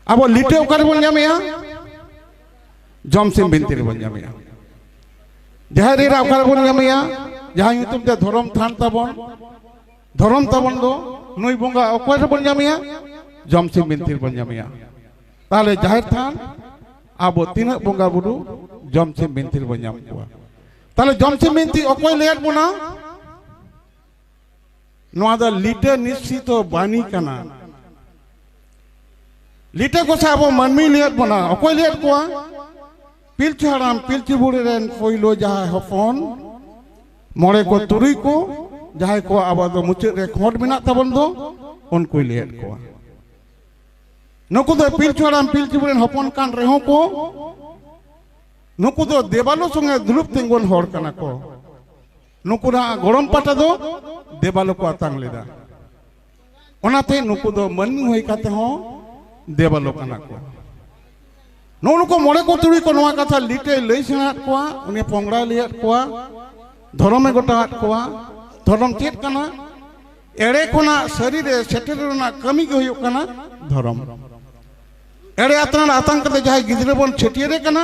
ᱟᱵᱚ ᱞᱤᱴᱟᱹ ᱚᱠᱟ ᱨᱮᱵᱚᱱ ᱧᱟᱢᱮᱜᱼᱟ ᱡᱚᱢᱥᱤᱢ ᱵᱤᱱᱛᱤ ᱨᱮᱵᱚᱱ ᱧᱟᱢᱮᱜᱼᱟ ᱡᱟᱦᱮᱨ ᱮᱨᱟ ᱚᱠᱟ ᱨᱮᱵᱚᱱ ᱧᱟᱢᱮᱜᱼᱟ ᱡᱟᱦᱟᱸ ᱧᱩᱛᱩᱢ ᱛᱮ ᱫᱷᱚᱨᱚᱢ ᱛᱷᱟᱱ ᱛᱟᱵᱚᱱ ᱫᱷᱚᱨᱚᱢ ᱛᱟᱵᱚᱱ ᱫᱚ ᱱᱩᱭ ᱵᱚᱸᱜᱟ ᱚᱠᱚᱭ ᱨᱮᱵᱚᱱ ᱧᱟᱢᱮᱜᱼᱟ ᱡᱚᱢᱥᱤᱢ ᱵᱤᱱᱛᱤ ᱨᱮᱵᱚᱱ ᱧᱟᱢᱮᱜᱼᱟ ᱛᱟᱦᱚᱞᱮ ᱡᱟᱦᱮᱨ ᱛᱷᱟᱱ ᱟᱵᱚ ᱛᱤᱱᱟᱹᱜ ᱵᱚᱸᱜᱟ ᱵᱩᱨᱩ ᱡᱚᱢᱥᱤᱢ ᱵᱤᱱᱛᱤ ᱨᱮᱵᱚᱱ ᱧᱟᱢ ᱠᱚᱣᱟ ᱛᱟᱦᱚᱞᱮ ᱡᱚᱢᱥᱤᱢ ᱵᱤᱱᱛᱤ ᱚᱠᱚᱭ ᱞᱟᱹᱭᱟᱫ ᱵᱚᱱᱟ ᱱᱚᱣᱟ ᱫᱚ ᱞᱤᱴᱟᱹ ᱱᱤᱥᱪᱤᱛᱚ ᱵᱟᱹᱱᱤ ᱠᱟᱱᱟ ᱞᱤᱴᱟᱹ ᱠᱚ ᱥᱮ ᱟᱵᱚ ᱢᱟᱹᱱᱢᱤ ᱞᱟᱹᱭᱮᱫ ᱵᱚᱱᱟ ᱚᱠᱚᱭ ᱞᱟᱹᱭᱮᱫ ᱠᱚᱣᱟ ᱯᱤᱞᱪᱩ ᱦᱟᱲᱟᱢ ᱯᱤᱞᱪᱩ ᱵᱩᱲᱦᱤ ᱨᱮᱱ ᱯᱳᱭᱞᱳ ᱡᱟᱦᱟᱸᱭ ᱦᱚᱯᱚᱱ ᱢᱚᱬᱮ ᱠᱚ ᱛᱩᱨᱩᱭ ᱠᱚ ᱡᱟᱦᱟᱸᱭ ᱠᱚ ᱟᱵᱚ ᱫᱚ ᱢᱩᱪᱟᱹᱫ ᱨᱮ ᱠᱷᱚᱸᱰ ᱢᱮᱱᱟᱜ ᱛᱟᱵᱚᱱ ᱫᱚ ᱩᱱᱠᱩᱭ ᱞᱟᱹᱭᱮᱫ ᱠᱚᱣᱟ ᱱᱩᱠᱩ ᱫᱚ ᱯᱤᱞᱪᱩ ᱦᱟᱲᱟᱢ ᱯᱤᱞᱪᱩ ᱵᱩᱲᱦᱤ ᱨᱮᱱ ᱦᱚᱯᱚᱱ ᱠᱟᱱ ᱨᱮᱦᱚᱸ ᱠᱚ ᱱᱩᱠᱩ ᱫᱚ ᱫᱮᱵᱟᱞᱳ ᱥᱚᱸᱜᱮ ᱫᱩᱲᱩᱵ ᱛᱤᱸᱜᱩᱱ ᱦᱚᱲ ᱠᱟᱱᱟ ᱠᱚ ᱱᱩᱠᱩᱱᱟᱜ ᱜᱚᱲᱚᱢ ᱯᱟᱴᱟ ᱫᱚ ᱫᱮᱵᱟᱞᱳ ᱠᱚ ᱟᱛᱟᱝ ᱞᱮᱫᱟ ᱚᱱᱟᱛᱮ ᱱᱩᱠᱩ ᱫᱚ ᱢᱟᱹᱱᱢᱤ ᱦᱩᱭ ᱠᱟᱛᱮ ᱦᱚᱸ ᱫᱮᱵᱟᱞᱳ ᱠᱟᱱᱟ ᱠᱚ ᱱᱚᱜᱼᱚ ᱱᱩᱠᱩ ᱢᱚᱬᱮ ᱠᱚ ᱛᱩᱨᱩᱭ ᱠᱚ ᱱᱚᱣᱟ ᱠᱟᱛᱷᱟ ᱞᱤᱴᱮ ᱞᱟᱹᱭ ᱥᱮᱬᱟᱫ ᱠᱚᱣᱟ ᱩᱱᱤ ᱯᱚᱝᱲᱟᱭ ᱞᱟᱹᱭᱟᱫ ᱠᱚᱣᱟ ᱫᱷᱚᱨᱚᱢᱮ ᱜᱚᱴᱟᱣᱟᱫ ᱠᱚᱣᱟ ᱫᱷᱚᱨᱚᱢ ᱪᱮᱫ ᱠᱟᱱᱟ ᱮᱲᱮ ᱠᱷᱚᱱᱟᱜ ᱥᱟᱹᱨᱤ ᱨᱮ ᱥᱮᱴᱮᱨ ᱨᱮᱱᱟᱜ ᱠᱟᱹᱢᱤ ᱜᱮ ᱦᱩᱭᱩᱜ ᱠᱟᱱᱟ ᱫᱷᱚᱨᱚᱢ ᱮᱲᱮ ᱟᱛᱟᱝ ᱟᱛᱟᱝ ᱠᱟᱛᱮ ᱡᱟᱦᱟᱸᱭ ᱜᱤᱫᱽᱨᱟᱹ ᱵᱚᱱ ᱪᱷᱟᱹᱴᱭᱟᱹᱨᱮ ᱠᱟᱱᱟ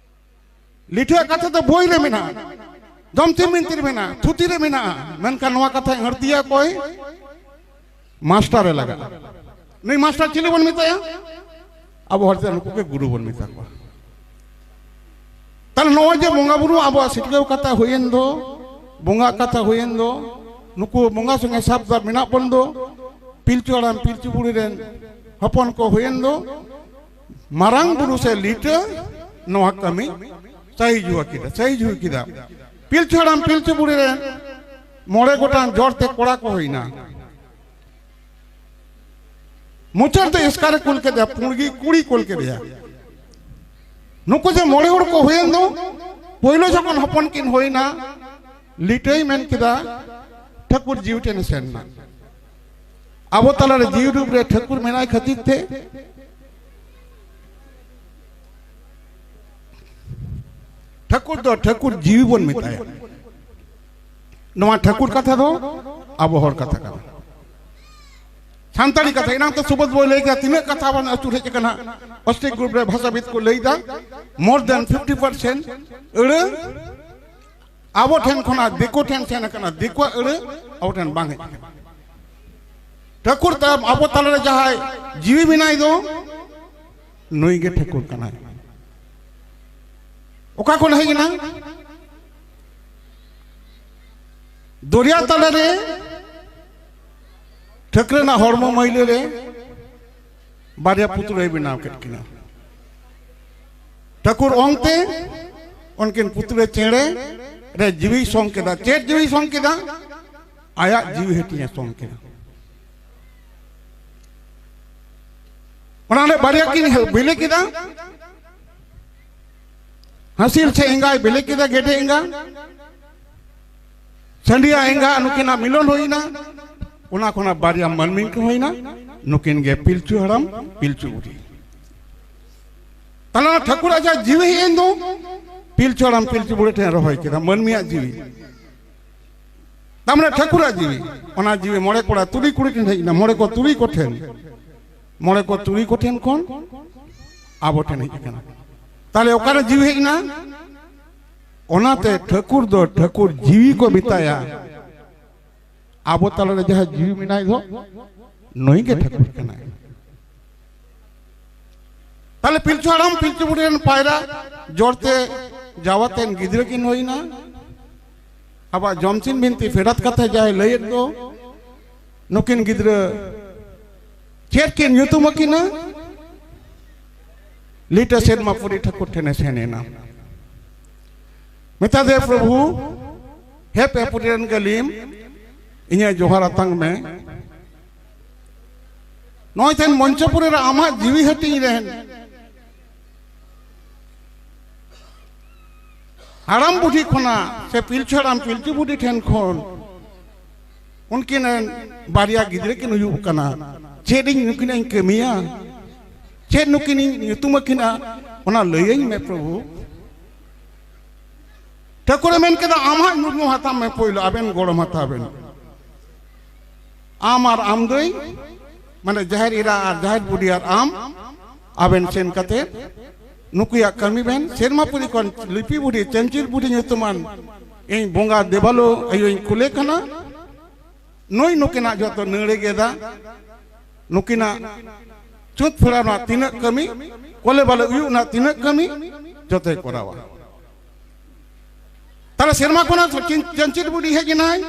ᱞᱤᱴᱷᱟᱹ ᱠᱟᱛᱷᱟ ᱫᱚ ᱵᱳᱭ ᱨᱮ ᱢᱮᱱᱟᱜᱼᱟ ᱫᱚᱢᱛᱮ ᱢᱤᱱᱛᱤ ᱨᱮ ᱢᱮᱱᱟᱜᱼᱟ ᱛᱷᱩᱛᱤ ᱨᱮ ᱢᱮᱱᱟᱜᱼᱟ ᱢᱮᱱᱠᱷᱟᱱ ᱱᱚᱣᱟ ᱠᱟᱛᱷᱟ ᱟᱹᱲᱛᱤᱭᱟ ᱚᱠᱚᱭ ᱢᱟᱥᱴᱟᱨᱮ ᱞᱟᱜᱟᱜᱼᱟ ᱱᱩᱭ ᱢᱟᱥᱴᱟᱨ ᱪᱤᱞᱤ ᱵᱚᱱ ᱢᱮᱛᱟᱭᱟ ᱟᱵᱚ ᱦᱚᱲ ᱛᱮ ᱱᱩᱠᱩ ᱜᱮ ᱜᱩᱨᱩ ᱵᱚᱱ ᱢᱮᱛᱟ ᱠᱚᱣᱟ ᱛᱟᱦᱚᱞᱮ ᱱᱚᱜᱼᱚᱭ ᱡᱮ ᱵᱚᱸᱜᱟ ᱵᱩᱨᱩ ᱟᱵᱚᱣᱟᱜ ᱥᱤᱴᱠᱟᱹᱣ ᱠᱟᱛᱷᱟ ᱦᱩᱭᱮᱱ ᱫᱚ ᱵᱚᱸᱜᱟ ᱠᱟᱛᱷᱟ ᱦᱩᱭᱮᱱ ᱫᱚ ᱱᱩᱠᱩ ᱵᱚᱸᱜᱟ ᱥᱚᱸᱜᱮ ᱥᱟᱵ ᱫᱟᱵ ᱢᱮᱱᱟᱜ ᱵᱚᱱ ᱫᱚ ᱯᱤᱞᱪᱩ ᱦᱟᱲᱟᱢ ᱯᱤᱞᱪᱩ ᱵᱩᱲᱦᱤ ᱨᱮᱱ ᱦᱚᱯᱚᱱ ᱠᱚ ᱦᱩᱭᱮᱱ ᱫᱚ ᱢᱟᱨᱟᱝ ᱵᱩᱨᱩ ᱥᱮ ᱞᱤᱴᱟᱹ ᱱᱚᱣᱟ ᱠᱟᱹᱢᱤ ᱥᱟᱹᱦᱤ ᱡᱩᱣᱟᱹ ᱠᱮᱫᱟ ᱥᱟᱹᱦᱤ ᱡᱩᱣᱟᱹ ᱠᱮᱫᱟ ᱯᱤᱞᱪᱩ ᱦᱟᱲᱟᱢ ᱯᱤᱞᱪᱩ ᱵᱩᱲᱦᱤ ᱨᱮ ᱢᱚᱬᱮ ᱜᱚᱴᱟᱝ ᱡᱚᱲ ᱛᱮ ᱠᱚᱲᱟ ᱠᱚ ᱦᱩᱭᱱᱟ ᱢᱩᱪᱟᱹᱫ ᱛᱮ ᱮᱥᱠᱟᱨᱮ ᱠᱩᱞ ᱠᱮᱫᱮᱭᱟ ᱯᱩᱬᱜᱤ ᱠᱩᱲᱤ ᱠᱩᱞ ᱠᱮᱫᱮᱭᱟ ᱱᱩᱠᱩ ᱡᱮ ᱢᱚᱬᱮ ᱦᱚᱲ ᱠᱚ ᱦᱩᱭᱮᱱ ᱫᱚ ᱯᱳᱭᱞᱳ ᱡᱚᱠᱷᱚᱱ ᱦᱚᱯᱚᱱ ᱠᱤᱱ ᱦᱩᱭᱱᱟ ᱞᱤᱴᱟᱹᱭ ᱢᱮᱱ ᱠᱮᱫᱟ ᱴᱷᱟᱹᱠᱩᱨ ᱡᱤᱣᱤ ᱴᱷᱮᱱᱮ ᱥᱮᱱ ᱮᱱᱟ ᱟᱵᱚ ᱛᱟᱞᱟᱨᱮ ᱡᱤᱣᱤ ᱨᱩᱯ ᱨᱮ ᱴᱷᱟᱹᱠᱩᱨ ᱢᱮᱱᱟᱭ ᱠᱷᱟᱹᱛᱤᱨ ᱛᱮ ᱴᱷᱟᱹᱠᱩᱨ ᱫᱚ ᱴᱷᱟᱹᱠᱩᱨ ᱡᱤᱣᱤ ᱵᱚᱱ ᱢᱮᱛᱟᱭᱟ ᱱᱚᱣᱟ ᱴᱷᱟᱹᱠᱩᱨ ᱠᱟᱛᱷᱟ ᱫᱚ ᱟᱵᱚ ᱦᱚᱲ ᱠᱟᱛᱷᱟ ᱠᱟᱱᱟ ᱥᱟᱱᱛᱟᱲᱤ ᱠᱟᱛᱷᱟ ᱮᱱᱟᱝ ᱛᱚ ᱥᱩᱵᱚᱫ ᱵᱚᱭ ᱞᱟᱹᱭ ᱠᱮᱫᱟ ᱛᱤᱱᱟᱹᱜ ᱠᱟᱛᱷᱟ ᱵᱚᱱ ᱟᱹᱪᱩᱨ ᱦᱮᱡ ᱟᱠᱟᱱᱟ ᱚᱥᱴᱨᱤᱠ ᱜᱨᱩᱯ ᱨᱮ ᱵᱷᱟᱥᱟᱵᱤᱫ ᱠᱚ ᱞᱟᱹᱭ ᱮᱫᱟ ᱢᱳᱨ ᱫᱮᱱ ᱯᱷᱤᱯᱴᱤ ᱯᱟᱨᱥᱮᱱᱴ ᱟᱹᱲᱟᱹ ᱟᱵᱚ ᱴᱷᱮᱱ ᱠᱷᱚᱱᱟᱜ ᱫᱤᱠᱩ ᱴᱷᱮᱱ ᱥᱮᱱ ᱟᱠᱟᱱᱟ ᱫᱤᱠᱩᱣᱟᱜ ᱟᱹᱲᱟᱹ ᱟᱵᱚ ᱴᱷᱮᱱ ᱵᱟᱝ ᱦᱮᱡ ᱟᱠᱟᱱᱟ ᱴᱷᱟᱹᱠᱩᱨ ᱛᱟᱭᱚᱢ ᱟᱵᱚ ᱛᱟᱞᱟᱨᱮ ᱡᱟᱦᱟᱸᱭ ᱡᱤᱣᱤ ᱢᱮᱱᱟᱭ ᱫᱚ ᱱᱩᱭ ᱜᱮ ᱴᱷᱟᱹᱠᱩᱨ ᱠᱟᱱᱟᱭ ᱚᱠᱟ ᱠᱷᱚᱱ ᱦᱮᱡ ᱮᱱᱟ ᱫᱚᱨᱭᱟ ᱛᱟᱞᱟᱨᱮ ᱴᱷᱟᱹᱠᱨᱟᱹ ᱨᱮᱱᱟᱜ ᱦᱚᱲᱢᱚ ᱢᱟᱹᱭᱞᱟᱹ ᱨᱮ ᱵᱟᱨᱭᱟ ᱯᱩᱛᱲᱟᱹᱭ ᱵᱮᱱᱟᱣ ᱠᱮᱫ ᱠᱤᱱᱟ ᱴᱷᱟᱹᱠᱩᱨ ᱚᱝᱛᱮ ᱩᱱᱠᱤᱱ ᱯᱩᱛᱲᱟᱹ ᱪᱮᱬᱮ ᱨᱮ ᱡᱤᱣᱤ ᱥᱚᱝ ᱠᱮᱫᱟ ᱪᱮᱫ ᱡᱤᱣᱤ ᱥᱚᱝ ᱠᱮᱫᱟ ᱟᱭᱟᱜ ᱡᱤᱣᱤ ᱦᱟᱹᱴᱤᱧᱮ ᱥᱚᱝ ᱠᱮᱫᱟ ᱚᱱᱟᱨᱮ ᱵᱟᱨᱭᱟ ᱠᱤᱱ ᱵᱤᱞᱤ ᱠᱮᱫᱟ ᱦᱟᱹᱥᱤᱞ ᱥᱮ ᱮᱸᱜᱟᱭ ᱵᱤᱞᱤ ᱠᱮᱫᱟ ᱜᱮᱰᱮ ᱮᱸᱜᱟ ᱪᱟᱹᱰᱤᱭᱟ ᱮᱸᱜᱟ ᱱᱩᱠᱤᱱᱟᱜ ᱢᱤᱞᱚᱱ ᱦᱩᱭᱱᱟ ᱚᱱᱟ ᱠᱷᱚᱱᱟᱜ ᱵᱟᱨᱭᱟ ᱢᱟᱹᱱᱢᱤ ᱠᱚ ᱦᱩᱭᱱᱟ ᱱᱩᱠᱤᱱ ᱜᱮ ᱯᱤᱞᱪᱩ ᱦᱟᱲᱟᱢ ᱯᱤᱞᱪᱩ ᱵᱩᱰᱷᱤ ᱛᱟᱦᱞᱮ ᱴᱷᱟᱹᱠᱩᱨ ᱟᱡᱟᱜ ᱡᱤᱣᱤ ᱦᱮᱡ ᱮᱱ ᱫᱚ ᱯᱤᱞᱪᱩ ᱦᱟᱲᱟᱢ ᱯᱤᱞᱪᱩ ᱵᱩᱲᱦᱤ ᱴᱷᱮᱱ ᱨᱚᱦᱚᱭ ᱠᱮᱫᱟ ᱢᱟᱹᱱᱢᱤᱭᱟᱜ ᱡᱤᱣᱤ ᱛᱟᱨᱢᱟᱱᱮ ᱴᱷᱟᱹᱠᱩᱨᱟᱜ ᱡᱤᱣᱤ ᱚᱱᱟ ᱡᱤᱣᱤ ᱢᱚᱬᱮ ᱠᱚᱲᱟ ᱛᱩᱨᱩᱭ ᱠᱩᱲᱤ ᱴᱷᱮᱱ ᱦᱮᱡ ᱮᱱᱟ ᱢᱚᱬᱮ ᱠᱚ ᱛᱩᱨᱩᱭ ᱠᱚ ᱴᱷᱮᱱ ᱢᱚᱬᱮ ᱠᱚ ᱛᱩᱨᱩᱭ ᱠᱚ ᱴᱷᱮᱱ ᱠᱷᱚᱱ ᱟᱵᱚ ᱴᱷᱮᱱ ᱦᱮᱡ ᱟᱠᱟᱱᱟ ᱛᱟᱦᱞᱮ ᱚᱠᱟᱨᱮ ᱡᱤᱣᱤ ᱦᱮᱡ ᱮᱱᱟ ᱚᱱᱟᱛᱮ ᱴᱷᱟᱹᱠᱩᱨ ᱫᱚ ᱴᱷᱟᱹᱠᱩᱨ ᱡᱤᱣᱤ ᱠᱚ ᱢᱮᱛᱟᱭᱟ ᱟᱵᱚ ᱛᱟᱞᱟᱨᱮ ᱡᱟᱦᱟᱸ ᱡᱤᱣᱤ ᱢᱮᱱᱟᱭ ᱫᱚ ᱱᱩᱭ ᱜᱮ ᱴᱷᱟᱹᱠᱩᱨ ᱠᱟᱱᱟᱭ ᱛᱟᱦᱞᱮ ᱯᱤᱞᱪᱩ ᱦᱟᱲᱟᱢ ᱯᱤᱞᱪᱩ ᱵᱩᱰᱷᱤ ᱨᱮᱱ ᱯᱟᱭᱨᱟ ᱡᱚᱲᱛᱮ ᱡᱟᱣᱟᱛᱮᱱ ᱜᱤᱫᱽᱨᱟᱹ ᱠᱤᱱ ᱦᱩᱭᱱᱟ ᱟᱵᱟᱨ ᱡᱚᱢᱥᱤᱱ ᱵᱤᱱᱛᱤ ᱯᱷᱮᱰᱟᱛ ᱠᱟᱛᱷᱟ ᱡᱟᱦᱟᱸᱭ ᱞᱟᱹᱭᱮᱫ ᱫᱚ ᱱᱩᱠᱤᱱ ᱜᱤᱫᱽᱨᱟᱹ ᱪᱮᱫ ᱠᱤᱱ ᱧᱩᱛᱩᱢ ᱟᱹᱠᱤᱱᱟ ᱞᱤᱴᱟᱹ ᱥᱮᱨᱢᱟ ᱯᱩᱨᱤ ᱴᱷᱟᱹᱠᱩᱨ ᱴᱷᱮᱱᱮ ᱥᱮᱱ ᱮᱱᱟ ᱢᱮᱛᱟ ᱫᱮ ᱯᱨᱚᱵᱷᱩ ᱦᱮ ᱯᱮ ᱯᱩᱨᱤ ᱨᱮᱱ ᱜᱟᱹᱞᱤᱢ ᱤᱧᱟᱹᱜ ᱡᱚᱦᱟᱨ ᱟᱛᱟᱝ ᱢᱮ ᱱᱚᱜᱼᱚᱭ ᱛᱮᱱ ᱢᱚᱧᱪᱚᱯᱩᱨᱤ ᱨᱮ ᱟᱢᱟᱜ ᱡᱤᱣᱤ ᱦᱟᱹᱴᱤᱧ ᱨᱮᱱ ᱦᱟᱲᱟᱢ ᱵᱩᱰᱷᱤ ᱠᱷᱚᱱᱟᱜ ᱥᱮ ᱯᱤᱞᱪᱩ ᱦᱟᱲᱟᱢ ᱯᱤᱞᱪᱩ ᱵᱩᱰᱷᱤ ᱴᱷᱮᱱ ᱠᱷᱚᱱ ᱩᱱᱠᱤᱱ ᱨᱮᱱ ᱵᱟᱨᱭᱟ ᱜᱤᱫᱽᱨᱟᱹ ᱠᱤᱱ ᱦᱩᱭᱩᱜ ᱠᱟᱱᱟ ᱪᱮᱫ ᱤᱧ ᱱᱩᱠᱤᱱᱟᱜ ᱤᱧ ᱠᱟᱹᱢᱤᱭᱟ ᱪᱮᱫ ᱱᱩᱠᱤᱱ ᱤᱧ ᱧᱩᱛᱩᱢ ᱟᱹᱠᱤᱱᱟ ᱚᱱᱟ ᱞᱟᱹᱭᱟᱹᱧ ᱢᱮ ᱯᱨᱚᱵᱷᱩ ᱴᱷᱟᱹᱠᱩᱨᱮ ᱢᱮᱱ ᱠᱮᱫᱟ ᱟᱢᱟᱜ ᱧᱩᱛᱩᱢ ᱦᱟᱛᱟᱣ ᱢᱮ ᱯᱳᱭᱞᱳ ᱟᱵᱮᱱ ᱜᱚᱲᱚᱢ ᱦᱟᱛᱟᱣ ᱵᱮᱱ ᱟᱢ ᱟᱨ ᱟᱢ ᱫᱟᱹᱭ ᱢᱟᱱᱮ ᱡᱟᱦᱮᱨ ᱤᱨᱟ ᱟᱨ ᱡᱟᱦᱮᱨ ᱵᱩᱰᱤ ᱟᱨ ᱟᱢ ᱟᱵᱮᱱ ᱥᱮᱱ ᱠᱟᱛᱮ ᱱᱩᱠᱩᱭᱟᱜ ᱠᱟᱹᱢᱤ ᱵᱮᱱ ᱥᱮᱨᱢᱟ ᱯᱩᱨᱤ ᱠᱷᱚᱱ ᱞᱤᱯᱤ ᱵᱩᱰᱷᱤ ᱪᱮᱱᱪᱤᱞ ᱵᱩᱰᱷᱤ ᱧᱩᱛᱩᱢᱟᱱ ᱤᱧ ᱵᱚᱸᱜᱟ ᱫᱮᱵᱟᱞᱳ ᱟᱭᱳᱧ ᱠᱩᱞᱮ ᱠᱟᱱᱟ ᱱᱩᱭ ᱱᱩᱠᱤᱱᱟᱜ ᱡᱚᱛᱚ ᱱᱟᱹᱲᱮ ᱜᱮᱫᱟ ᱱᱩᱠᱤᱱᱟᱜ ᱪᱩᱛ ᱯᱷᱮᱲᱟᱣ ᱨᱮᱱᱟᱜ ᱛᱤᱱᱟᱹᱜ ᱠᱟᱹᱢᱤ ᱠᱚᱞᱮ ᱵᱟᱞᱮ ᱩᱭᱩᱜ ᱨᱮᱱᱟᱜ ᱛᱤᱱᱟᱹᱜ ᱠᱟᱹᱢᱤ ᱡᱚᱛᱚᱭ ᱠᱚᱨᱟᱣᱟ ᱛᱟᱦᱞᱮ ᱥᱮᱨᱢᱟ ᱠᱷᱚᱱᱟᱜ ᱪᱟᱹᱱᱪᱤᱨ ᱵᱩᱰᱷᱤ ᱦᱮᱡ ᱮᱱᱟᱭ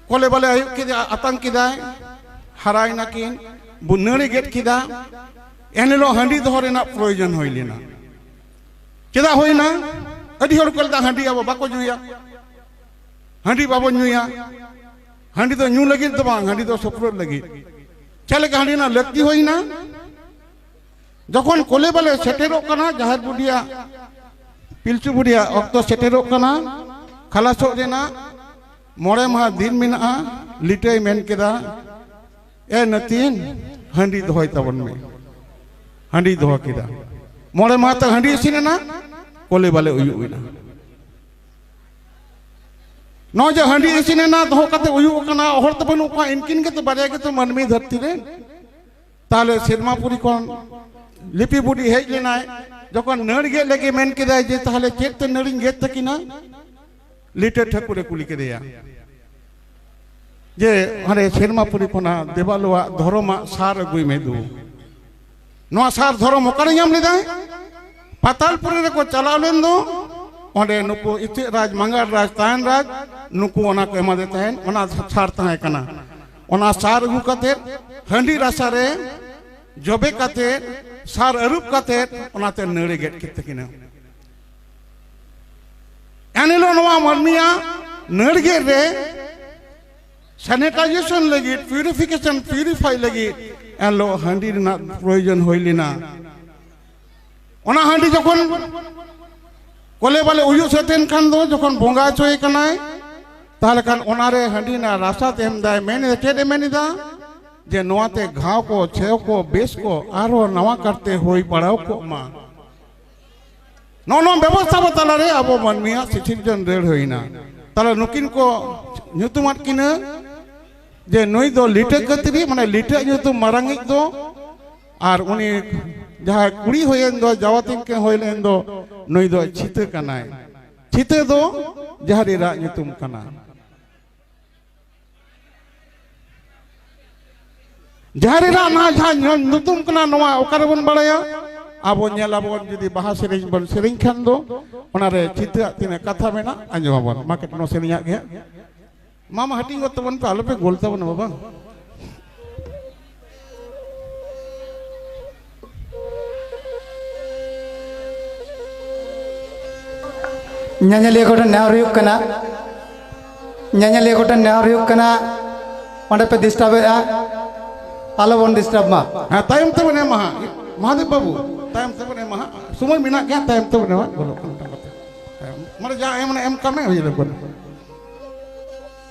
ᱠᱚᱞᱮ ᱵᱟᱞᱮ ᱟᱭᱩᱵ ᱠᱮᱫᱟ ᱟᱛᱟᱝ ᱠᱮᱫᱟᱭ ᱦᱟᱨᱟᱭ ᱱᱟᱠᱤᱱ ᱱᱟᱹᱲᱮ ᱜᱮᱫ ᱠᱮᱫᱟ ᱮᱱᱦᱤᱞᱳᱜ ᱦᱟᱺᱰᱤ ᱫᱚᱦᱚ ᱨᱮᱱᱟᱜ ᱯᱨᱚᱭᱳᱡᱚᱱ ᱦᱩᱭ ᱞᱮᱱᱟ ᱪᱮᱫᱟᱜ ᱦᱩᱭᱱᱟ ᱟᱹᱰᱤ ᱦᱚᱲ ᱠᱚ ᱞᱮᱫᱟ ᱦᱟᱺᱰᱤ ᱟᱵᱚ ᱵᱟᱠᱚ ᱧᱩᱭᱟ ᱦᱟᱺᱰᱤ ᱵᱟᱵᱚ ᱧᱩᱭᱟ ᱦᱟᱺᱰᱤ ᱫᱚ ᱧᱩ ᱞᱟᱹᱜᱤᱫ ᱫᱚ ᱵᱟᱝ ᱦᱟᱺᱰᱤ ᱫᱚ ᱥᱚᱯᱨᱚᱫ ᱞᱟᱹᱜᱤᱫ ᱪᱮᱫ ᱞᱮᱠᱟ ᱦᱟᱺᱰᱤ ᱨᱮᱱᱟᱜ ᱞᱟᱹᱠᱛᱤ ᱦᱩᱭᱱᱟ ᱡᱚᱠᱷᱚᱱ ᱠᱚᱞᱮ ᱵᱟᱞᱮ ᱥᱮᱴᱮᱨᱚᱜ ᱠᱟᱱᱟ ᱡᱟᱦᱮᱨ ᱵᱩᱰᱷᱤᱭᱟᱜ ᱯᱤᱞᱪᱩ ᱵᱩᱰᱷᱤᱭᱟᱜ ᱚᱠᱛᱚ ᱥᱮᱴᱮᱨᱚᱜ ᱠᱟᱱᱟ ᱠᱷᱟᱞᱟᱥᱚᱜ ᱨᱮᱱᱟᱜ ᱢᱚᱬᱮ ᱢᱟᱦᱟ ᱫᱤᱱ ᱢᱮᱱᱟᱜᱼᱟ ᱞᱤᱴᱟᱹᱭ ᱢᱮᱱ ᱠᱮᱫᱟ ᱮ ᱱᱟᱹᱛᱤᱱ ᱦᱟᱺᱰᱤ ᱫᱚᱦᱚᱭ ᱛᱟᱵᱚᱱ ᱢᱮ ᱦᱟᱺᱰᱤ ᱫᱚᱦᱚ ᱠᱮᱫᱟ ᱢᱚᱬᱮ ᱢᱟᱦᱟ ᱛᱟᱠ ᱦᱟᱺᱰᱤ ᱤᱥᱤᱱ ᱮᱱᱟ ᱠᱚᱞᱮ ᱵᱟᱞᱮ ᱩᱭᱩᱜ ᱮᱱᱟ ᱱᱚᱜᱼᱚᱭ ᱡᱮ ᱦᱟᱺᱰᱤ ᱤᱥᱤᱱ ᱮᱱᱟ ᱫᱚᱦᱚ ᱠᱟᱛᱮ ᱩᱭᱩᱜ ᱠᱟᱱᱟ ᱦᱚᱲ ᱛᱚ ᱵᱟᱹᱱᱩᱜ ᱠᱚᱣᱟ ᱤᱱᱠᱤᱱ ᱜᱮᱛᱚ ᱵᱟᱨᱭᱟ ᱜᱮᱛᱚ ᱢᱟᱹᱱᱢᱤ ᱫᱷᱟᱹᱨᱛᱤ ᱨᱮ ᱛᱟᱦᱞᱮ ᱥᱮᱨᱢᱟᱯᱩᱨᱤ ᱠᱷᱚᱱ ᱞᱤᱯᱤ ᱵᱩᱰᱤ ᱦᱮᱡ ᱞᱮᱱᱟᱭ ᱡᱚᱠᱷᱚᱱ ᱱᱟᱹᱲ ᱜᱮᱫ ᱞᱟᱹᱜᱤᱫ ᱢᱮᱱ ᱠᱮᱫᱟᱭ ᱡᱮ ᱛᱟᱦᱞᱮ ᱪᱮᱫ ᱛᱮ ᱱᱟᱹᱲᱤᱧ ᱜᱮᱫ ᱛᱟᱹᱠᱤᱱᱟ ᱞᱤᱴᱟᱹ ᱴᱷᱟᱹᱠᱩᱨ ᱮ ᱠᱩᱞᱤ ᱠᱮᱫᱮᱭᱟ ᱡᱮ ᱦᱟᱸᱰᱮ ᱥᱮᱨᱢᱟᱯᱩᱨᱤ ᱠᱷᱚᱱᱟᱜ ᱫᱮᱵᱟᱞᱳᱣᱟᱜ ᱫᱷᱚᱨᱚᱢᱟᱜ ᱥᱟᱨ ᱟᱹᱜᱩᱭ ᱢᱮ ᱫᱩ ᱱᱚᱣᱟ ᱥᱟᱨ ᱫᱷᱚᱨᱚᱢ ᱚᱠᱟᱨᱮ ᱧᱟᱢ ᱞᱮᱫᱟᱭ ᱯᱟᱛᱟᱞᱯᱩᱨᱤ ᱨᱮᱠᱚ ᱪᱟᱞᱟᱣ ᱞᱮᱱ ᱫᱚ ᱚᱸᱰᱮ ᱱᱩᱠᱩ ᱤᱪᱟᱹᱜ ᱨᱟᱡᱽ ᱢᱟᱸᱜᱟᱲ ᱨᱟᱡᱽ ᱛᱟᱦᱮᱱ ᱨᱟᱡᱽ ᱱᱩᱠᱩ ᱚᱱᱟ ᱠᱚ ᱮᱢᱟᱫᱮ ᱛᱟᱦᱮᱱ ᱚᱱᱟ ᱥᱟᱨ ᱛᱟᱦᱮᱸ ᱠᱟᱱᱟ ᱚᱱᱟ ᱥᱟᱨ ᱟᱹᱜᱩ ᱠᱟᱛᱮᱫ ᱦᱟᱺᱰᱤ ᱨᱟᱥᱟ ᱨᱮ ᱡᱚᱵᱮ ᱠᱟᱛᱮᱫ ᱥᱟᱨ ᱟᱹᱨᱩᱵ ᱠᱟᱛᱮᱫ ᱚᱱᱟᱛᱮ ᱱᱟᱹᱲᱮ ᱜᱮᱫ ᱠᱮᱫ ᱛᱟᱹᱠᱤᱱᱟ ᱮᱱᱦᱤᱞᱳᱜ ᱱᱚᱣᱟ ᱢᱟᱹᱱᱢᱤᱭᱟᱜ ᱱᱟᱹᱲᱜᱮᱫ ᱨᱮ ᱥᱮᱱᱤᱴᱟᱭᱡᱮᱥᱚᱱ ᱞᱟᱹᱜᱤᱫ ᱯᱤউᱨᱤᱯᱷᱤᱠᱮᱥᱚᱱ ᱯᱤউᱨᱤᱯᱷᱟᱭ ᱞᱟᱹᱜᱤᱫ ᱮᱱᱦᱤᱞᱳᱜ ᱦᱟᱺᱰᱤ ᱨᱮᱱᱟᱜ ᱯᱨᱚᱭᱳᱡᱚᱱ ᱦᱩᱭ ᱞᱮᱱᱟ ᱚᱱᱟ ᱦᱟᱺᱰᱤ ᱡᱚᱠᱷᱚᱱ ᱠᱚᱞᱮ ᱵᱟᱞᱮ ᱩᱭᱩᱜ ᱥᱟᱹᱛᱮᱱ ᱠᱷᱟᱱ ᱫᱚ ᱡᱚᱠᱷᱚᱱ ᱵᱚᱸᱜᱟ ᱦᱚᱪᱚᱭᱮ ᱠᱟᱱᱟᱭ ᱛᱟᱦᱚᱞᱮ ᱠᱷᱟᱱ ᱚᱱᱟᱨᱮ ᱦᱟᱺᱰᱤ ᱨᱮᱱᱟᱜ ᱨᱟᱥᱟ ᱛᱮᱢ ᱫᱟᱭ ᱢᱮᱱ ᱮᱫᱟ ᱪᱮᱫ ᱮ ᱢᱮᱱ ᱮᱫᱟ ᱡᱮ ᱱᱚᱣᱟᱛᱮ ᱜᱷᱟᱣ ᱠᱚ ᱪᱷᱮᱣ ᱠᱚ ᱵᱮᱥ ᱠᱚ ᱟᱨᱦᱚᱸ ᱱᱟᱣᱟ ᱠᱟᱨᱛᱮ ᱦᱩᱭ ᱵᱟᱲᱟᱣ ᱠᱚᱜ ᱢᱟ ᱱᱚᱜᱼᱚ ᱱᱚᱣᱟ ᱵᱮᱵᱚᱥᱛᱷᱟ ᱵᱚ ᱛᱟᱞᱟᱨᱮ ᱟᱵᱚ ᱢᱟᱹᱱᱢᱤᱭᱟᱜ ᱥᱤᱴᱤᱡᱮᱱ ᱨᱟᱹᱲ ᱦᱩᱭᱱᱟ ᱛᱟᱦᱚᱞᱮ ᱱᱩᱠᱤᱱ ᱠᱚ ᱧᱩᱛᱩᱢᱟᱫ ᱠᱤᱱᱟᱹ ᱡᱮ ᱱᱩᱭ ᱫᱚ ᱞᱤᱴᱟᱹ ᱠᱟᱹᱛᱨᱤ ᱢᱟᱱᱮ ᱞᱤᱴᱟᱹ ᱧᱩᱛᱩᱢ ᱢᱟᱨᱟᱝᱤᱡ ᱫᱚ ᱟᱨ ᱩᱱᱤ ᱡᱟᱦᱟᱸᱭ ᱠᱩᱲᱤ ᱦᱩᱭᱮᱱ ᱫᱚ ᱡᱟᱣᱟᱛᱤᱱ ᱠᱤᱱ ᱦᱩᱭ ᱞᱮᱱ ᱫᱚ ᱱᱩᱭ ᱫᱚ ᱪᱷᱤᱛᱟᱹ ᱠᱟᱱᱟᱭ ᱪᱷᱤᱛᱟᱹ ᱫᱚ ᱡᱟᱦᱟᱸ ᱨᱮ ᱨᱟᱜ ᱧᱩᱛᱩᱢ ᱠᱟᱱᱟ ᱡᱟᱦᱟᱸ ᱨᱮᱱᱟᱜ ᱱᱚᱣᱟ ᱡᱟᱦᱟᱸ ᱧᱩᱛᱩᱢ ᱠᱟᱱᱟ ᱱᱚᱣᱟ ᱚᱠᱟ ᱨᱮᱵᱚᱱ ᱵᱟᱲᱟᱭᱟ ᱟᱵᱚ ᱧᱮᱞᱟᱵᱚᱱ ᱡᱩᱫᱤ ᱵᱟᱦᱟ ᱥᱮᱨᱮᱧ ᱵᱚᱱ ᱥᱮᱨᱮᱧ ᱠᱷᱟᱱ ᱫᱚ ᱚᱱᱟᱨᱮ ᱪᱤᱛᱟᱹᱨᱟᱜ ᱛᱤᱱᱟᱹᱜ ᱠᱟᱛᱷᱟ ᱢᱮᱱᱟᱜ ᱟᱸᱡᱚᱢᱟᱵᱚᱱ ᱢᱟ ᱠᱟᱹᱴᱤᱡ ᱱᱚᱣᱟ ᱥᱮᱨᱮᱧᱟᱜ ᱜᱮ ᱢᱟᱢᱟ ᱦᱟᱹᱴᱤᱧ ᱜᱚᱫ ᱛᱟᱵᱚᱱ ᱯᱮ ᱟᱞᱚᱯᱮ ᱜᱳᱞ ᱛᱟᱵᱚᱱᱟ ᱵᱟᱵᱟ ᱧᱮᱧᱮᱞᱤᱭᱟᱹ ᱠᱚᱴᱷᱮᱱ ᱱᱮᱦᱚᱨ ᱦᱩᱭᱩᱜ ᱠᱟᱱᱟ ᱧᱮᱧᱮᱞᱤᱭᱟᱹ ᱠᱚᱴᱷᱮᱱ ᱱᱮᱦᱚᱨ ᱦᱩᱭᱩᱜ ᱠᱟᱱᱟ ᱚᱸᱰᱮ ᱯᱮ ᱰᱤᱥᱴᱟᱵᱮᱫᱼᱟ ᱟᱞᱚ ᱵᱚᱱ ᱰᱤᱥᱴᱟᱵᱽ ᱢᱟ ᱦᱮᱸ ᱛᱟᱭᱚᱢ ᱛᱮᱵᱚᱱ ᱮᱢᱟ ᱦᱟᱸᱜ ᱢᱚᱦᱟᱫᱮᱵ ᱵᱟᱹᱵᱩ ᱛᱟᱭᱚᱢ ᱛᱮᱵᱚᱱ ᱮᱢᱟ ᱦᱟᱸᱜ ᱥᱚᱢᱚᱭ ᱢᱮᱱᱟᱜ ᱜᱮᱭᱟ ᱛᱟᱭᱚᱢ ᱛᱮᱵᱚᱱ ᱮᱢᱟ ᱵᱚᱞᱚᱜ ᱠᱟᱱᱟ ᱢᱟᱱᱮ ᱡᱟ ᱮᱢ ᱮᱢ ᱠᱟᱜ ᱢᱮ ᱦᱩᱭ ᱞᱮᱱ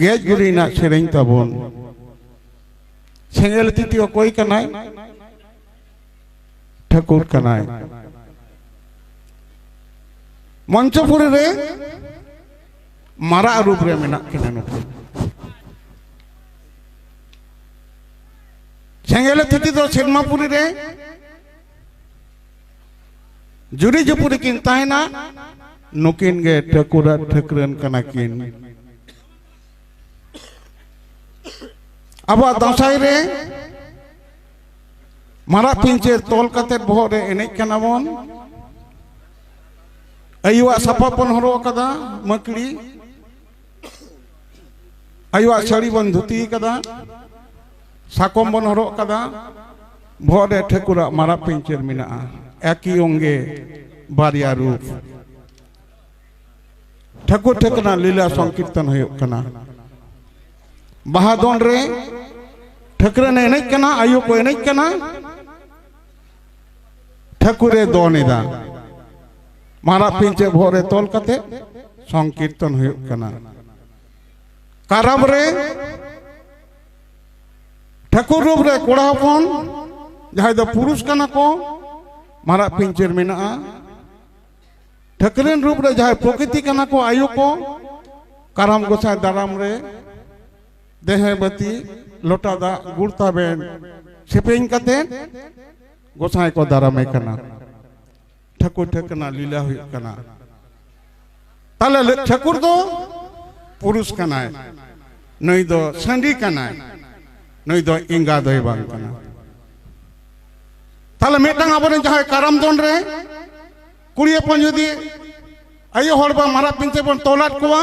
ᱜᱮᱡ ᱜᱩᱨᱤ ᱨᱮᱱᱟᱜ ᱥᱮᱨᱮᱧ ᱛᱟᱵᱚᱱ ᱥᱮᱸᱜᱮᱞ ᱛᱤᱛᱤ ᱚᱠᱚᱭ ᱠᱟᱱᱟᱭ ᱴᱷᱟᱹᱠᱩᱨ ᱠᱟᱱᱟᱭ ᱢᱚᱧᱪᱚᱯᱩᱨᱤ ᱨᱮ ᱢᱟᱨᱟᱜ ᱨᱩᱯ ᱨᱮ ᱢᱮᱱᱟᱜ ᱠᱤᱱᱟ ᱱᱩᱠᱩ ᱥᱮᱸᱜᱮᱞ ᱛᱤᱛᱤ ᱫᱚ ᱥᱮᱱᱢᱟᱯᱩᱨᱤ ᱨᱮ ᱡᱩᱨᱤ ᱡᱩᱯᱩᱨᱤ ᱠᱤᱱ ᱛᱟᱦᱮᱱᱟ ᱱᱩᱠᱤᱱ ᱜᱮ ᱴᱷᱟᱹᱠᱩᱨ ᱟᱨ ᱴᱷᱟᱹᱠᱨᱟᱹᱱ ᱠᱟᱱᱟ ᱠᱤᱱ ᱟᱵᱚᱣᱟᱜ ᱫᱟᱸᱥᱟᱭ ᱨᱮ ᱢᱟᱨᱟᱜ ᱯᱤᱧᱪᱟᱹᱨ ᱛᱚᱞ ᱠᱟᱛᱮ ᱵᱚᱦᱚᱜ ᱨᱮ ᱮᱱᱮᱡ ᱠᱟᱱᱟ ᱵᱚᱱ ᱟᱭᱩᱣᱟᱜ ᱥᱟᱯᱟᱵ ᱵᱚᱱ ᱦᱚᱨᱚᱜ ᱟᱠᱟᱫᱟ ᱢᱟᱹᱠᱲᱤ ᱟᱭᱳᱣᱟᱜ ᱥᱟᱹᱲᱤ ᱵᱚᱱ ᱫᱷᱩᱛᱤ ᱠᱟᱫᱟ ᱥᱟᱠᱚᱢ ᱵᱚᱱ ᱦᱚᱨᱚᱜ ᱠᱟᱫᱟ ᱵᱚᱦᱚᱜ ᱨᱮ ᱴᱷᱟᱹᱠᱩᱨᱟᱜ ᱢᱟᱨᱟᱜ ᱯᱤᱧᱪᱟᱹᱨ ᱢᱮᱱᱟᱜᱼᱟ ᱮᱠᱤ ᱚᱝᱜᱮ ᱵᱟᱨᱭᱟ ᱨᱩᱯ ᱴᱷᱟᱹᱠᱩᱨ ᱴᱷᱟᱹᱠᱩᱨ ᱞᱤᱞᱟ ᱥᱚᱝᱠᱤᱨᱛᱚᱱ ᱦᱩᱭᱩᱜ ᱠᱟᱱᱟ ᱵᱟᱦᱟ ᱫᱚᱱ ᱨᱮ ᱴᱷᱟᱹᱠᱨᱟᱹᱱ ᱮᱱᱮᱡ ᱠᱟᱱᱟ ᱟᱭᱳ ᱠᱚ ᱮᱱᱮᱡ ᱠᱟᱱᱟ ᱴᱷᱟᱹᱠᱩᱨᱮ ᱫᱚᱱ ᱮᱫᱟ ᱢᱟᱨᱟᱜ ᱯᱤᱧᱪᱮ ᱵᱚᱦᱚᱜ ᱨᱮ ᱛᱚᱞ ᱠᱟᱛᱮ ᱥᱚᱝᱠᱤᱨᱛᱚᱱ ᱦᱩᱭᱩᱜ ᱠᱟᱱᱟ ᱠᱟᱨᱟᱢ ᱨᱮ ᱴᱷᱟᱹᱠᱩᱨ ᱨᱩᱯ ᱨᱮ ᱠᱚᱲᱟ ᱦᱚᱯᱚᱱ ᱡᱟᱦᱟᱸᱭ ᱫᱚ ᱯᱩᱨᱩᱥ ᱠᱟᱱᱟ ᱠᱚ ᱢᱟᱨᱟᱜ ᱯᱤᱧᱪᱮᱨ ᱢᱮᱱᱟᱜᱼᱟ ᱴᱷᱟᱹᱠᱨᱮᱱ ᱨᱩᱯ ᱨᱮ ᱡᱟᱦᱟᱸᱭ ᱯᱨᱚᱠᱨᱤᱛᱤ ᱠᱟᱱᱟ ᱠᱚ ᱟᱭᱳ ᱠᱚ ᱠᱟᱨᱟᱢ ᱜᱚᱸᱥᱟᱭ ᱫᱟᱨᱟᱢ ᱨᱮ ᱫᱮᱦᱮ ᱵᱟᱹᱛᱤ ᱞᱚᱴᱟ ᱫᱟᱜ ᱜᱩᱲ ᱛᱟᱵᱮᱱ ᱥᱮᱯᱮᱧ ᱠᱟᱛᱮ ᱜᱚᱥᱟᱭ ᱠᱚ ᱫᱟᱨᱟᱢᱮ ᱠᱟᱱᱟ ᱴᱷᱟᱹᱠᱩᱨ ᱴᱷᱟᱹᱠᱟᱹᱱᱟ ᱞᱤᱞᱟ ᱦᱩᱭᱩᱜ ᱠᱟᱱᱟ ᱛᱟᱦᱞᱮ ᱴᱷᱟᱹᱠᱩᱨ ᱫᱚ ᱯᱩᱨᱩᱥ ᱠᱟᱱᱟᱭ ᱱᱩᱭ ᱫᱚ ᱥᱟᱺᱰᱤ ᱠᱟᱱᱟᱭ ᱱᱩᱭ ᱫᱚ ᱮᱸᱜᱟ ᱫᱚᱭ ᱵᱟᱝ ᱠᱟᱱᱟ ᱛᱟᱦᱞᱮ ᱢᱤᱫᱴᱟᱝ ᱟᱵᱚᱨᱮᱱ ᱡᱟᱦᱟᱸᱭ ᱠᱟᱨᱟᱢ ᱫᱚᱱ ᱨᱮ ᱠᱩᱲᱤ ᱦᱚᱯᱚᱱ ᱡᱩᱫᱤ ᱟᱭᱳ ᱦᱚᱲ ᱵᱟ ᱢᱟᱨᱟᱜ ᱯᱤᱧᱪᱟᱹᱨ ᱵᱚᱱ ᱛᱚᱞᱟᱫ ᱠᱚᱣᱟ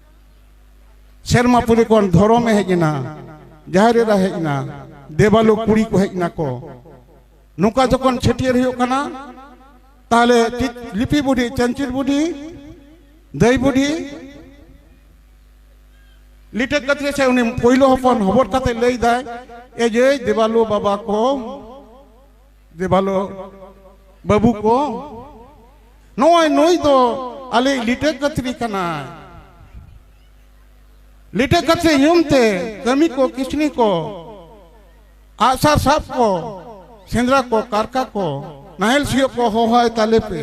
ᱥᱮᱨᱢᱟ ᱯᱩᱨᱤ ᱠᱷᱚᱱ ᱫᱷᱚᱨᱚᱢ ᱮ ᱦᱮᱡ ᱮᱱᱟ ᱡᱟᱦᱮᱨ ᱮᱨᱟ ᱦᱮᱡ ᱮᱱᱟ ᱫᱮᱵᱟᱞᱳ ᱠᱩᱲᱤ ᱠᱚ ᱦᱮᱡ ᱱᱟᱠᱚ ᱱᱚᱝᱠᱟ ᱡᱚᱠᱷᱚᱱ ᱪᱷᱟᱹᱴᱭᱟᱹᱨ ᱦᱩᱭᱩᱜ ᱠᱟᱱᱟ ᱛᱟᱦᱞᱮ ᱞᱤᱯᱤ ᱵᱩᱰᱷᱤ ᱪᱟᱱᱪᱤᱨ ᱵᱩᱰᱷᱤ ᱫᱟᱹᱭ ᱵᱩᱰᱷᱤ ᱞᱤᱴᱟᱹ ᱠᱟᱛᱮ ᱥᱮ ᱩᱱᱤ ᱯᱳᱭᱞᱳ ᱦᱚᱯᱚᱱ ᱦᱚᱵᱚᱨ ᱠᱟᱛᱮ ᱞᱟᱹᱭ ᱫᱟᱭ ᱮ ᱡᱮ ᱫᱮᱵᱟᱞᱳ ᱵᱟᱵᱟ ᱠᱚ ᱡᱮ ᱵᱷᱟᱞᱚ ᱵᱟᱹᱵᱩ ᱠᱚ ᱱᱚᱜᱼᱚᱭ ᱱᱩᱭ ᱫᱚ ᱟᱞᱮ ᱞᱤᱴᱟᱹ ᱠᱟᱹᱛᱨᱤ ᱠᱟᱱᱟᱭ ᱞᱤᱴᱟᱹ ᱠᱟᱹᱛᱨᱤ ᱧᱩᱢ ᱛᱮ ᱠᱟᱹᱢᱤ ᱠᱚ ᱠᱤᱥᱱᱤ ᱠᱚ ᱟᱜᱥᱟᱨ ᱥᱟᱵ ᱠᱚ ᱥᱮᱸᱫᱽᱨᱟ ᱠᱚ ᱠᱟᱨᱠᱟ ᱠᱚ ᱱᱟᱦᱮᱞ ᱥᱤᱭᱳᱜ ᱠᱚ ᱦᱚᱦᱚᱭ ᱛᱟᱞᱮ ᱯᱮ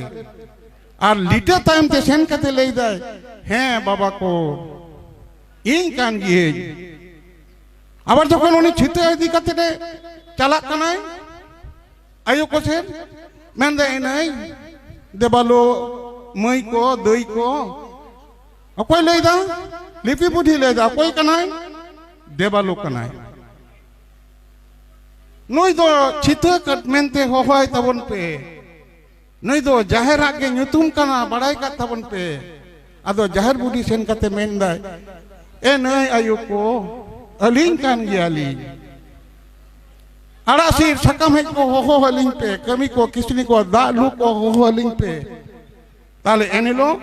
ᱟᱨ ᱞᱤᱴᱟᱹ ᱛᱟᱭᱚᱢ ᱛᱮ ᱥᱮᱱ ᱠᱟᱛᱮ ᱞᱟᱹᱭ ᱫᱟᱭ ᱦᱮᱸ ᱵᱟᱵᱟ ᱠᱚ ᱤᱧ ᱠᱟᱱ ᱜᱤᱭᱟᱹᱧ ᱟᱵᱟᱨ ᱡᱚᱠᱷᱚᱱ ᱩᱱᱤ ᱪᱷᱤᱛᱟᱹ ᱤᱫᱤ ᱠᱟᱛᱮ ᱮ ᱪᱟᱞᱟᱜ ᱠᱟᱱᱟᱭ ᱟᱭᱳ ᱠᱚ ᱥᱮᱫ ᱢᱮᱱᱫᱟ ᱮᱱᱟᱭ ᱫᱮᱵᱟᱞᱳ ᱢᱟᱹᱭ ᱠᱚ ᱫᱟᱹᱭ ᱠᱚ ᱚᱠᱚᱭ ᱞᱟᱹᱭᱫᱟ ᱞᱤᱯᱤ ᱵᱩᱰᱷᱤ ᱞᱟᱹᱭᱫᱟ ᱚᱠᱚᱭ ᱠᱟᱱᱟᱭ ᱫᱮᱵᱟᱞᱳ ᱠᱟᱱᱟᱭ ᱱᱩᱭ ᱫᱚ ᱪᱷᱤᱛᱟᱹ ᱠᱟᱹᱴ ᱢᱮᱱᱛᱮ ᱦᱚᱦᱚᱭ ᱛᱟᱵᱚᱱ ᱯᱮ ᱱᱩᱭ ᱫᱚ ᱡᱟᱦᱮᱨᱟᱜ ᱜᱮ ᱧᱩᱛᱩᱢ ᱠᱟᱱᱟ ᱵᱟᱲᱟᱭ ᱠᱟᱜ ᱛᱟᱵᱚᱱ ᱯᱮ ᱟᱫᱚ ᱡᱟᱦᱮᱨ ᱵᱩᱰᱷᱤ ᱥᱮᱱ ᱠᱟᱛᱮ ᱢᱮᱱᱫᱟᱭ ᱮ ᱱᱟᱹᱭ ᱟᱭᱳ ᱠᱚ ᱟᱹᱞᱤᱧ ᱠᱟᱱ ᱜᱮᱭᱟᱞᱤᱧ ᱟᱲᱟᱜ ᱥᱤᱨ ᱥᱟᱠᱟᱢ ᱦᱮᱡ ᱠᱚ ᱦᱚᱦᱚ ᱟᱹᱞᱤᱧ ᱯᱮ ᱠᱟᱹᱢᱤ ᱠᱚ ᱠᱤᱥᱱᱤ ᱠᱚ ᱫᱟᱜ ᱞᱩ ᱠᱚ ᱦᱚᱦᱚ ᱟᱹᱞᱤᱧ ᱯᱮ ᱛᱟᱦᱞᱮ ᱮᱱᱦᱤᱞᱳᱜ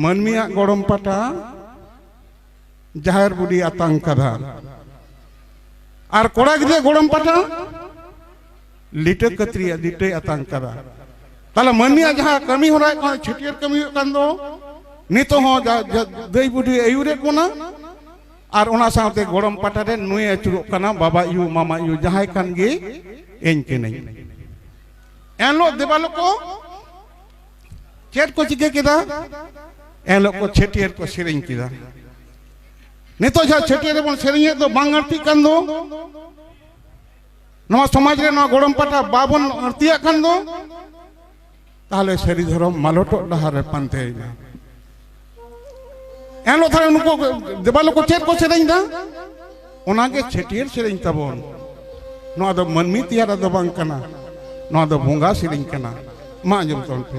ᱢᱟᱹᱱᱢᱤᱭᱟᱜ ᱜᱚᱲᱚᱢ ᱯᱟᱴᱟ ᱡᱟᱦᱮᱨ ᱵᱩᱰᱷᱤ ᱟᱛᱟᱝ ᱠᱟᱫᱟ ᱟᱨ ᱠᱚᱲᱟ ᱜᱤᱫᱽᱨᱟᱹ ᱜᱚᱲᱚᱢ ᱯᱟᱴᱟ ᱞᱤᱴᱟᱹ ᱠᱟᱹᱛᱨᱤ ᱞᱤᱴᱟᱹᱭ ᱟᱛᱟᱝ ᱠᱟᱫᱟ ᱛᱟᱦᱚᱞᱮ ᱢᱟᱹᱱᱢᱤᱭᱟᱜ ᱡᱟᱦᱟᱸ ᱠᱟᱹᱢᱤ ᱦᱚᱨᱟ ᱠᱟᱱᱟ ᱪᱷᱟᱹᱴᱭᱟᱹᱨ ᱠᱟᱹᱢᱤ ᱦᱩᱭᱩᱜ ᱠᱟᱱ ᱫᱚ ᱱᱤᱛᱚᱜ ᱦᱚᱸ ᱫᱟᱹᱭ ᱵᱩᱰᱷᱤ ᱟᱹᱭᱩᱨᱮᱫ ᱵᱚᱱᱟ ᱟᱨ ᱚᱱᱟ ᱥᱟᱶᱛᱮ ᱜᱚᱲᱚᱢ ᱯᱟᱴᱟ ᱨᱮ ᱱᱩᱭ ᱟᱹᱪᱩᱨᱚᱜ ᱠᱟᱱᱟ ᱵᱟᱵᱟ ᱭᱩ ᱢᱟᱢᱟ ᱭᱩ ᱡᱟᱦᱟᱸᱭ ᱠᱟᱱ ᱜᱮ ᱤᱧ ᱠᱟᱹᱱᱟᱹᱧ ᱮᱱᱦᱤᱞᱳᱜ ᱫᱮᱵᱟᱞᱳ ᱠᱚ ᱪᱮᱫ ᱠᱚ ᱪᱤᱠᱟᱹ ᱠᱮᱫᱟ ᱮᱱᱦᱤᱞᱳᱜ ᱠᱚ ᱪᱷᱟᱹᱴᱭᱟᱹᱨ ᱠᱚ ᱥᱮᱨᱮᱧ ᱠᱮᱫᱟ ᱱᱤᱛᱚᱜ ᱡᱟᱦᱟᱸ ᱪᱷᱟᱹᱴᱭᱟᱹᱨ ᱨᱮᱵᱚᱱ ᱥᱮᱨᱮᱧᱮᱫ ᱫᱚ ᱵᱟᱝ ᱟᱹᱲᱛᱤᱜ ᱠᱟᱱ ᱫᱚ ᱱᱚᱣᱟ ᱥᱚᱢᱟᱡᱽ ᱨᱮ ᱱᱚᱣᱟ ᱜᱚᱲᱚᱢ ᱯᱟᱴᱟ ᱵᱟᱵᱚᱱ ᱟᱹᱲᱛᱤᱭᱟᱜ ᱠᱷᱟᱱ ᱫᱚ ᱛᱟᱦᱚᱞᱮ ᱥᱟᱹᱨᱤ ᱫᱷᱚᱨᱚᱢ ᱢᱟᱞᱚᱴᱚᱜ ᱰᱟᱦᱟᱨ ᱨᱮ ᱯᱟᱱᱛᱮᱭᱮᱱᱟ ᱮᱱᱦᱤᱞᱳᱜ ᱛᱟᱦᱚᱞᱮ ᱩᱱᱠᱩ ᱫᱮᱵᱟᱞᱳ ᱠᱚ ᱪᱮᱫ ᱠᱚ ᱥᱮᱨᱮᱧ ᱫᱟ ᱚᱱᱟᱜᱮ ᱪᱷᱟᱹᱴᱭᱟᱹᱨ ᱥᱮᱨᱮᱧ ᱛᱟᱵᱚᱱ ᱱᱚᱣᱟ ᱫᱚ ᱢᱟᱹᱱᱢᱤ ᱛᱮᱭᱟᱨ ᱫᱚ ᱵᱟᱝ ᱠᱟᱱᱟ ᱱᱚᱣᱟ ᱫᱚ ᱵᱚᱸᱜᱟ ᱥᱮᱨᱮᱧ ᱠᱟᱱᱟ ᱢᱟ ᱟᱸᱡᱚᱢ ᱛᱟᱵᱚᱱ ᱯᱮ